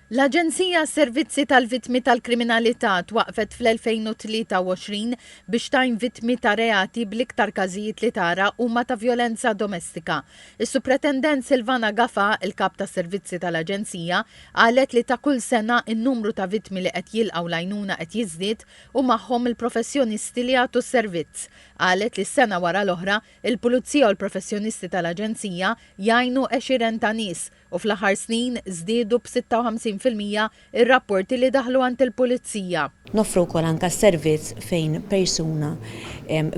L-Aġenzija għas-Servizzi tal-Vittmi tal-Kriminalità twaqqfet fl-2023 biex tgħin vittmi ta' reati bl-iktar każijiet li tara huma ta' vjolenza domestika. Is-Supretendent Silvana Gafà, il-Kap tas-Servizzi tal-Aġenzija, qalet li ta' kull sena n-numru ta' vittmi li qed jilqgħu l-għajnuna qed jiżdied u magħhom il-professjonisti li jagħtu s-servizz. Qalet li sena wara l-oħra, il-Pulizija u l-professjonisti tal-Aġenzija jgħinu għexieren ta' nies, u fl-aħħar snin żdiedu b'56 fil-mija r-rapporti li daħlu għand il-Pulizija. Noffru wkoll anke s-servizz fejn persuna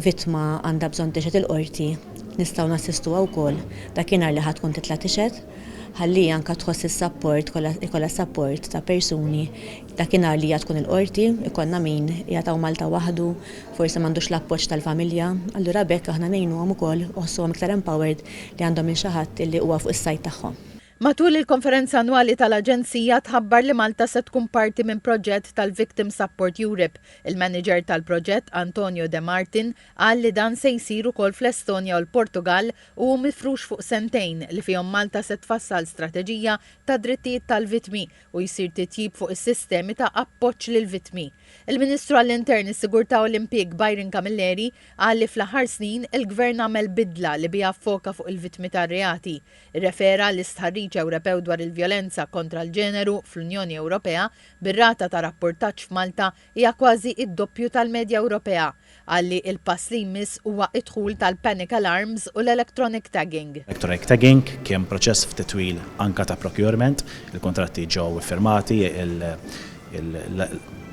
vittma għandha bżonn tixhed il-Qorti, nistgħu nassistuha wkoll dakinhar li ħa tkun titla' tixhed, ħalli hi anke tħoss is-sapport, jkollha jkollha s-sapport ta' persuni dakinhar li hija tkun il-Qorti, ikollna min qiegħed hawn Malta waħdu, forsi m'għandux l-appoġġ tal-familja, allura b'hekk aħna ngħinuhom ukoll u jħossuhom iktar empowered li għandhom minn xi ħadd illi huwa fuq is-sajd tagħhom. Matul il-konferenza annwali tal-Aġenzija tħabbar li Malta se tkun parti minn proġett tal-Victim Support Europe. Il-Manager tal-proġett, Antonio De Martin, qal li dan se jsir ukoll fl-Estonja u l-Portugall u hu mifrux fuq sentejn li fihom Malta se tfassal strateġija tad-drittijiet tal-vittmi u jsir titjib fuq is-sistemi ta' appoġġ lill-vittmi. Il-Ministru għall-Intern, is-Sigurtà u l-Impjieg Byron Camilleri qal li fl-aħħar snin il-Gvern għamel bidla li biha ffoka fuq il-vittmi tar-reati. Irrefera l-istħarriġ Ewropew dwar il-vjolenza kontra l-ġeneru fl-Unjoni Ewropea bir-rata ta' rappurtaġġ f'Malta hija kważi d-doppju tal-medja Ewropea Qal li l-pass li jmiss huwa d-dħul tal-panic alarms u l-electronic tagging. Electronic tagging kien proċess ftit twil anke ta' procurement, il-kuntratti ġew iffirmati,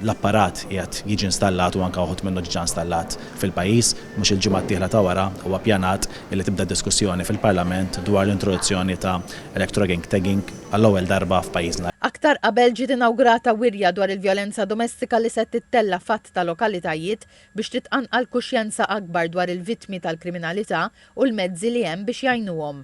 l-apparat qiegħed jiġi installat u anke uħud minnu diġà installat fil-pajjiż. Mhux il-ġimgħa d-dieħla ta' wara huwa ppjanat li tibda diskussjoni fil-Parlament dwar l-introduzzjoni ta' electronic tagging. għall-ewwel darba f'pajjiżna. Aktar qabel ġiet inawgurata wirja dwar il-vjolenza domestika li se tittella' f'għadd ta' lokalitajiet biex titqanqal kuxjenza akbar dwar il-vittmi tal-kriminalità u l-mezzi li hemm biex jgħinuhom.